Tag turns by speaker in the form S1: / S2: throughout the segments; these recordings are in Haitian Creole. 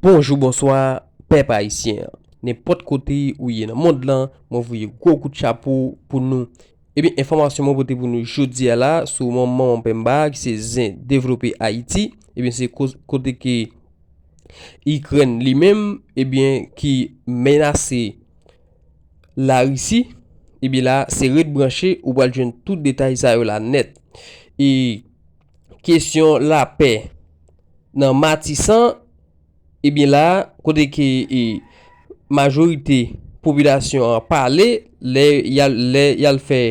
S1: Bonjou bonswa pèp ayisyen nenpòt kote ou ye nan mond lan mwen voye gwo kout chapo pou nou ebyen enfòmasyon mwen pote pou nou jodia la sou yon manman penmba ki se zen devlope ayiti ebyen se kote ke ikrèn li menm ebyen ki menase larisi ebyen la se ret branche ou pral jwenn tout detay sa yo la nèt e. kesyon lapè nan Matisan, ebyen la a kote ke majorite popilasyon an pale lè y al fè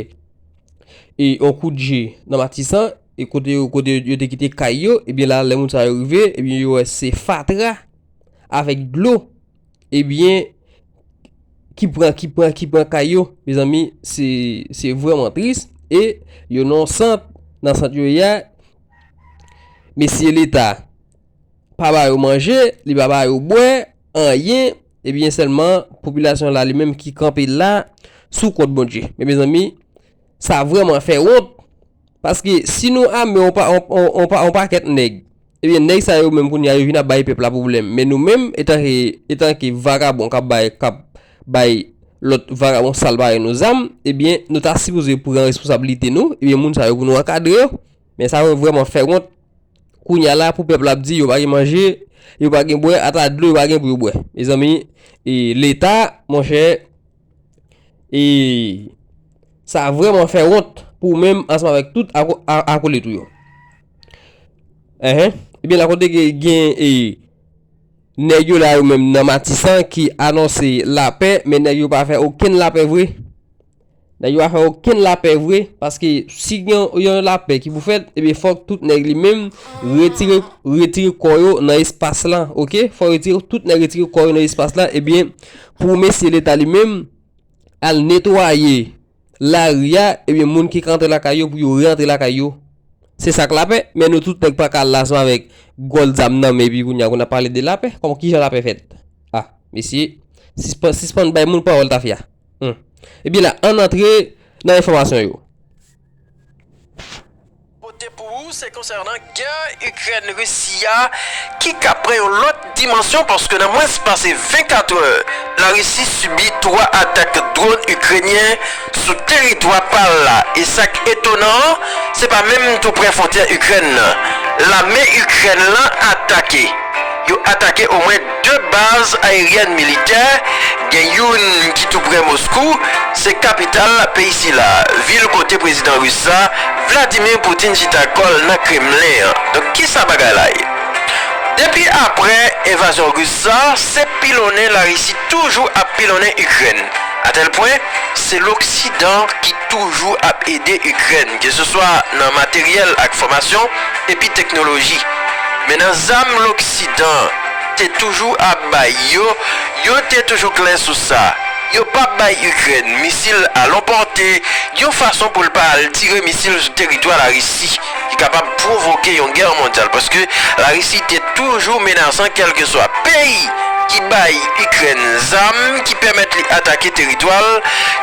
S1: yon kout je nan Matisan e kote yo te kite kay yo, ebyen la a lè moun sa yo rive, ebyen yo wè se fatra avèk dlo. Ebyen ki pran ki pran ki pran kay yo mezanmi se se vreman tris e yo nan yon sant nan sant yo ye a mesye leta pa ba yo manje li pa ba yo bwè anyen ebyen sèlman popilasyon la li menm ki kanpe la sou kont Bondye men mezanmi sa vreman fè wont. Paske si nou ame yon pa yon pa yon pakèt nèg ebyen nèg sa yo menm kounye a yo vin ap bay pèp la pwoblèm men nou menm etanke etanke vakabon k ap bay k ap bay lòt vakabon sal parèy nou zam ebyen nou ta sipoze pran responsablite nou ebyen moun sa yo pou nou ankadre yo men sa yo vrèman fè wont kounye a la pou pèp la ap di yo pa gen manje yo pa gen bwè ata dlo yo pa gen pou yo bwè mezanmi e leta monchè. E sa vreman fè wont pou menm ansanm avèk tout akolit ou yo. Enhen, ebyen la kote gen e nèg yo la yo menm nan Matisan ki anonse lapè, men nèg yo pa fè okenn lapè vre. Nèg yo pa fè okenn lapè vre, paske si gen yon lapè ki pou fèt, ebyen fòk tout nèg li menm retire retire kò yo nan espas lan, ok? Fòk retire tout nèg retire kò yo nan espas lan, ebyen Pou mesye leta li menm al netwaye lari a ebyen moun ki ka antre lakay yo pou yo re antre lakay yo se sak lapè men nou tout nèg pa ka al la sma vèk gòl zam nan men epi kounya pou nap pale de lapè kòman kijan lapè fèt a mesye sispan sispann bay moun pawòl tafya humm ebyen la ann antre nan enfòmasyon yo.
S2: pote pou ou se konsènan gè Ikrèn Risi a ki ka pran yon lòt dimansyon paske nan mwens pase 24 è Larisi sibi 3 atak dronn Ikrenyen sou teritwa pa l la e sak etonan an se pa menm tou prè fwontyè Ikrèn nan lame Ikrèn lan atake yo atake omwen De baz ayeryèn militè, gen youn ki tou prè Moskou, se kapital peyi sila, vil kote prezidan ris la, Vladimir Putin chita kò l nan Kremlen an. Donk kisa bagay la ye? Depi aprè envazyon ris sa, se pilonnen Larisi toujou ap pilonnen Ikrèn. Atèl pwen, se loksidan ki toujou ap ede Ikrèn, ke se swa nan materyèl ak fòmasyon, epi teknoloji. Men nan zam loksidan. te toujou ap bay yo, yo te toujou klè sou sa, yo pap bay Ikrèn misil a lon pòte yon fason pou l pa al tire misil sou teritwa Larisi ki kapab pwovoke yon gè mondyal paske Larisi te toujou menasan kèlkeswa peyi ki bay Ikrèn zam ki pèmèt li atake teritwa l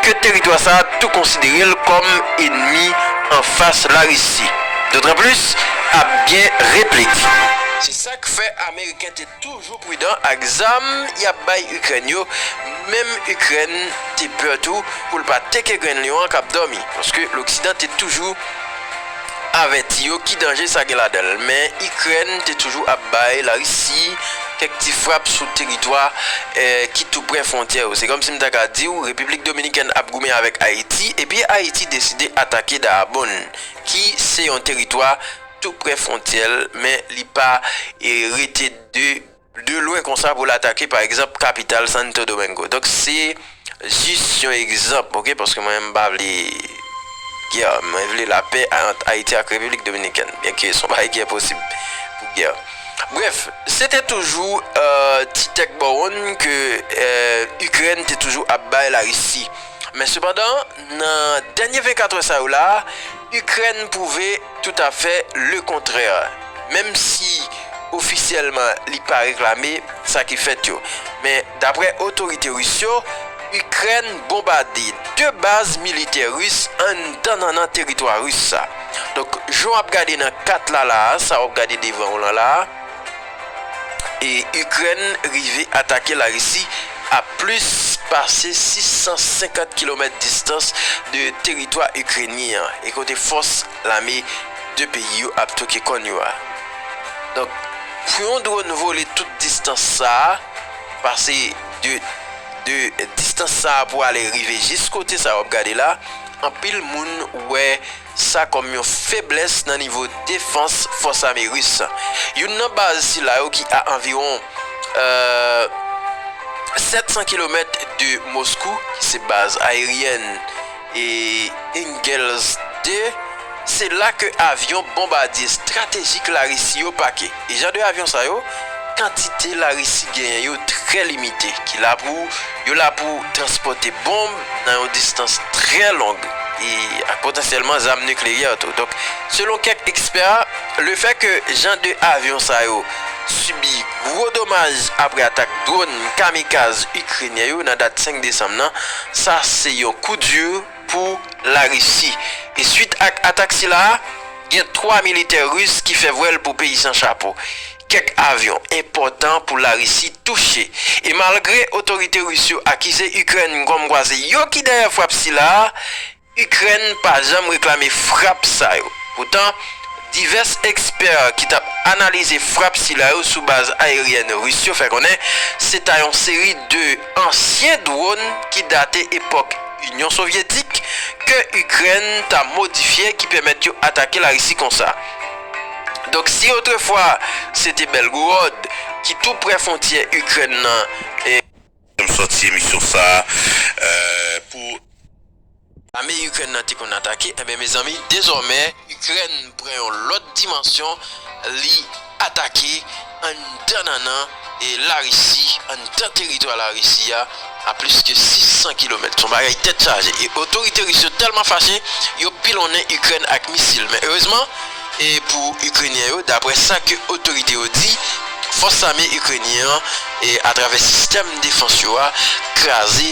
S2: ke teritwa sa tou konsidere l kòm enmi anfas Larisi. Dotranplis, ap gen replik. K fè ameriken te toujou pridan ak zam yap bay ikrèn yo menm ikrèn te pè tou poul pa teke grenn lyon an kap dòmi paske loksidan te toujou avèti yo ki danje sa gen ladanl men ikrèn te toujou ap bay larisi kèk ti frap sou teritwa ki tou prè fwontyè yo se kòmsi m ta ka diw repiblik dominikèn ap goumen avèk ayiti epi ayiti deside atake daabonn ki se yon teritwa tou prè fwontyè l men li pa rete de lwen konsa pou l atake pa egzanp kapital Santo Domingo donk se jis yon egzanp ok paske mwen menm m pa vle gè mwen vle lapè ant Ayiti ak Repiblik Dominikèn byen ke son bagay ki enposib pou gè brèf se te toujou ti tèk bawonn ke Ikrèn te toujou ap bay Larisi men sepandan nan dènye 24 è sa yo la. Ikrèn pwouve toutafè le kontrè, menm si ofisyèlman li pa reklame sa ki fèt yo. Men, daprè otorite ris yo, Ikrèn bonbade 2 baz militè ris anndan nannan teritwa ris sa. Donk, jan w ap gade nan kat la la a, sa w ap gade devan w lan la a, e Ikrèn rive atake Larisi a plis pase 650 kilomèt distans de teritwa Ikrenyen an e kote fòs lame 2 peyi yo ap twoke kòn yo a. Donk, pou yon dronn vole tout distans sa a, pase de de distans sa a pou ale rive jis kote sa a w ap gade la, anpil moun wè. sa kòm yon feblès nan nivo defans fòs ame ris. Youn nan baz sila yo ki a anviwon 700 kilomèt de Moskou, ki se baz ayeryèn Engels 2, se la ke avyon bonbadye estratejik Larisi yo pake. E jan de avyon sa yo, kantite la Risi genyen yo trè limite, ki la pou, yo la pou transpòte bonb nan yon distans trè long, e ak potansyèlman zam nikleyè tou. Donk, selon kèk ekspè, le fè ke jan de avyon sa yo sibi gwo domaj apre atak dwòn kamikaz Ikrenyen yo nan dat 5 desanm nan, sa se yon kou di pou la Risi. E swit ak atak sila a, Gen 3 militè Ris ki fè vwèl pou peyi san chapo. Kèk avyon enpòtan pou Larisi touche. E malgre otorite Ris yo akize Ikrèn kòmkwa se yo ki dèyè frap sila a, Ikrèn pa janm reklame frap sa yo. Poutan, divès ekspè ki t ap analize frap sila yo sou baz aeryèn Ris yo fè konnen se ta yon seri de. Ansyen dwòn ki date epòk Inyon Sovyetik ke Ikrèn ta modifye ki pèmèt yo atake Larisi konsa. Donk si otrefwa se te Belgorod ki tou prè fontyè Ikrèn nan, e. Janm sòti
S3: emisyon sa pou.
S2: Lame Ikrèn nan te konn atake enben mezanmi dezòmè Ikrèn pran yon lòt dimansyon li atake anndan nannan Larisi anndan teritwa Larisi a a plis ke 600 kilomèt son bagay tèt chaje e otorite Ris yo tèlman fache yo pilonnen Ikrèn ak misil men erezman pou Ikrenyen yo daprè sa ke otorite yo di fòs lame Ikrenyen an atravè sistèm defans yo a kraze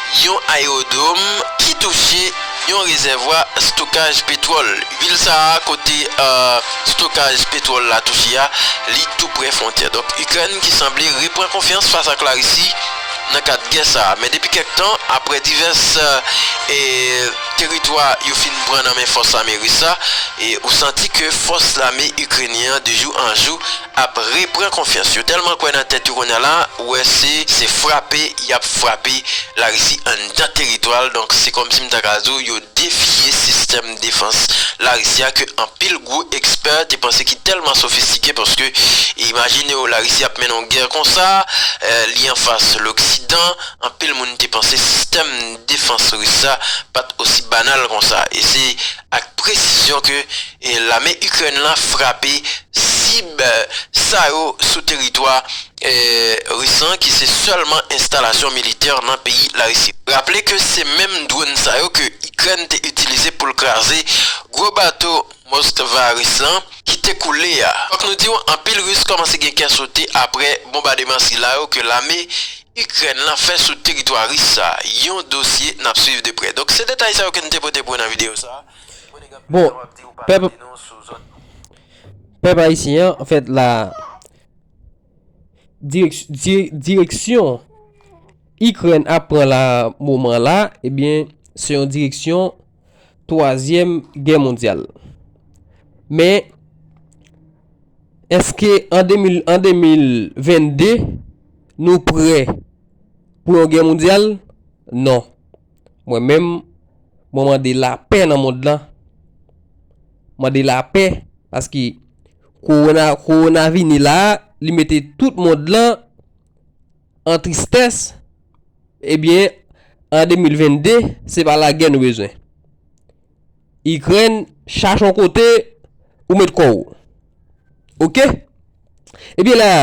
S2: Yon ayerodwom ki touche yon rezèvwa stokaj petwòl. Vil sa a kote stokaj petwòl la touche a, li tou prè fwontyè. Donk Ikrèn ki sanble repran konfyans fas ak Larisi nan kad gè sa a. Men depi kèk tan, aprè divès teritwa yo fin pran nan men fòs lame ris la, ou santi ke fòs lame ikrenyen an de jou an jou ap re pran konfyans yo tèlman kwè nan tèt yo kounye a la ou wè se se frape yap frape larisi anndan teritwa l donk se kòmsi m ta ka di w yo defye sistèm defans larisi a ke anpil gwo ekspè te panse ki tèlman sofistike paske imajine w larisi ap mennen yon gè konsa li anfas loksidan anpil moun te panse sistèm defans ris la pat osi banal konsa e se ak presizyon ke Lame Ikrèn la frape sib sa yo sou teritwa Ris lan ki se sèlman enstalasyon militè nan peyi Larisi. Raple ke se menm dronn sa yo ke Ikrèn te itilize pou l kraze gwo bato Moskva Ris lan ki te koule a. Fòk nou di w anpil Ris kòmanse gen kè sote apre bonbademan sila yo ke lame Ikrèn lan fè sou teritwa Ris sa, yon dosye n ap swiv de prè. Donk se detay sa yo ke n te pote pou w nan videyo sa. Bon,
S1: pèp pèp ayisyen an, an fèt la direksyon Ikrèn ap pran la moman la, ebyen eh se yon direksyon twazyèm gè mondyal. Men, eske an 2022, nou prè pou yon gè mondyal? Non. Mwen menm, mwen mande lapè nan mond lan. Mande lapè, paske kowona, kowona vini la, li mete tout mond lan an tristès, ebyen, an 2022, se pa lagè nou bezwen. Ikrèn chache yon kote ou met kò ou. Ok. Ebyen la,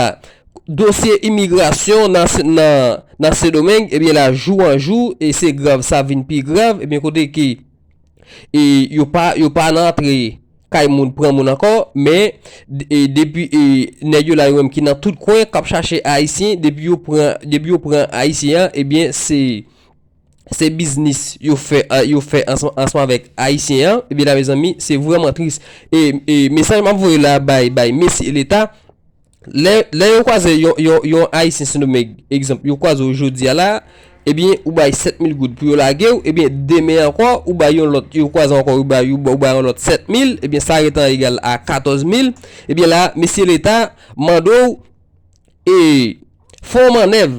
S1: dosye imigrasyon nan Sendomeng, ebyen la jou an jou, e se grav sa vin pi grav, ebyen kote ki e yo pa, yo pa nan antre kay moun pran moun ankò, men e depi e nèg yo la yo menm ki nan tout kwen kap chache ayisyen, depi yo pran, depi yo pran ayisyen an, ebyen se. se biznis yo fè yo fè ansanm avèk ayisyen an ebyen la mezanmi se vrèman tris e mesaj map voye la bay bay mesye leta lè yo kwaze yon ayisyen sendomeng egzanp yo kwaze w jodia la ebyen ou bay 7000 goud pou yo lage w ebyen demen ankò ou bay yon lòt yo kwaze ankò ou bay yon lòt 7000 ebyen sa retan egal a 14000 ebyen la mesye leta mande w e fon manèv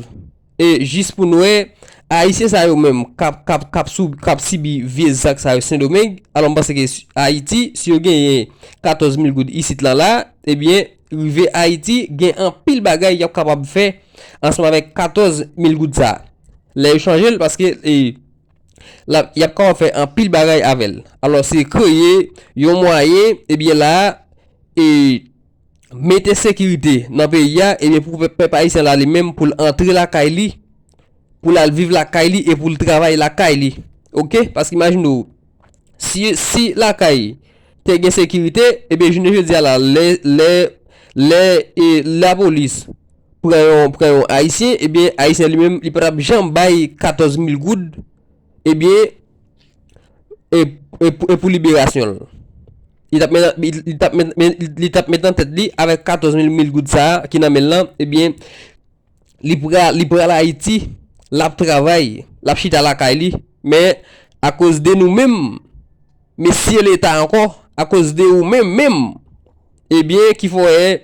S1: E jis pou n wè, Ayisyen sa yo menm k ap sibi vye zak sa yo Sendomeng, alò m panse ke Ayiti, si yo genyen 14 mil goud isit lan la, ebyen, rive Ayiti, gen anpil bagay y ap kapab fè ansanm avèk 14 mil goud sa a. Lè yo chanje l, paske y ap kapab fè anpil bagay avè l. Alò se kreye yon mwayen, ebyen la a, e. mete sekirite nan peyi a ebyen pou pèp ayisyen la li menm pou l antre lakay li pou l al viv lakay li e pou l travay lakay li ok paske imajine w si lakay te gen sekirite ebyen jounen jodi a la lè lè lè e lapolis pran yon pran yon ayisyen ebyen ayisyen li menm li pa t ap janm bay 14 mil goud ebyen e pou liberasyon l li tap met li tap met men li tap met nan tèt li avèk 14 mil mil goud sa ki nan menl lan ebyen li pra li pral ayiti lap travay lap chita lakay li men akoz de nou menm mesye leta ankò akoz de ou menm menm ebyen ki fòè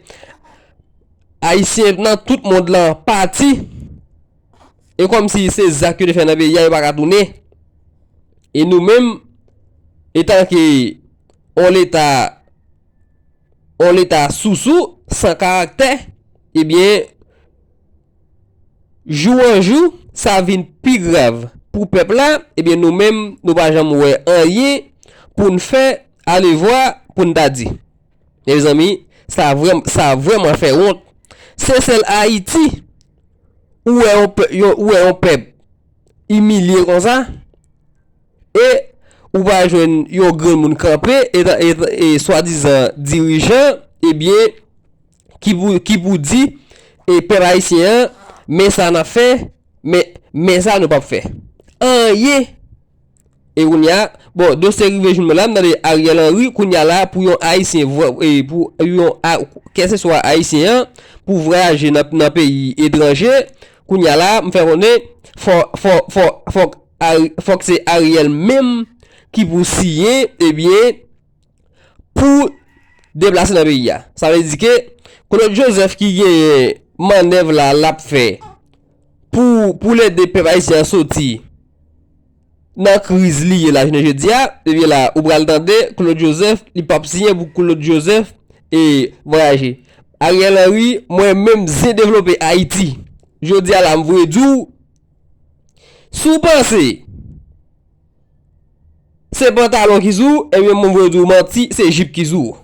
S1: ayisyen nan tout mond lan pati E kòm si se zak yo te fè nan peyi a yo paka tounen. E nou menm etan ke on leta on leta sousou san karaktè ebyen jou an jou sa vin pi grav pou pèp la ebyen nou menm nou pa janm wè anyen pou n fè alevwa pou n ta di. Mezanmi sa vrèman fè wont se sèl Ayiti ou wè yon pè yon ou wè yon pèp imilye konsa e ou pa jwenn yon grenn moun kanpe e ta e ta e swadizan dirijan ebyen ki pou ki pou di e pèp ayisyen an men sa n ap fè men men sa nou p ap fè anyen E kounya bon dosye rive joun mwen la m tande Ariel Henry kounya la pou yon ayisyen pou yon keseswa ayisyen an pou vwayaje nan peyi etranje kounya la m fè konnen fòk se Ariel menm ki pou siyen ebyen pou deplase nan peyi a. Sa vle di ke Claude Joseph ki genyen mannèv la lap fè pou pou l ede pèp ayisyen an soti nan kriz li ye la jounen jodi a, ebyen la ou pral tande Claude Joseph li pap siyen pou Claude Joseph e vwayaje. Ariel Henry mwen menm zin devlope Ayiti jodi a la m voye di w si w panse Se pantalon ki sou ou, ebyen mwen vle di w manti, se jip ki sou ou.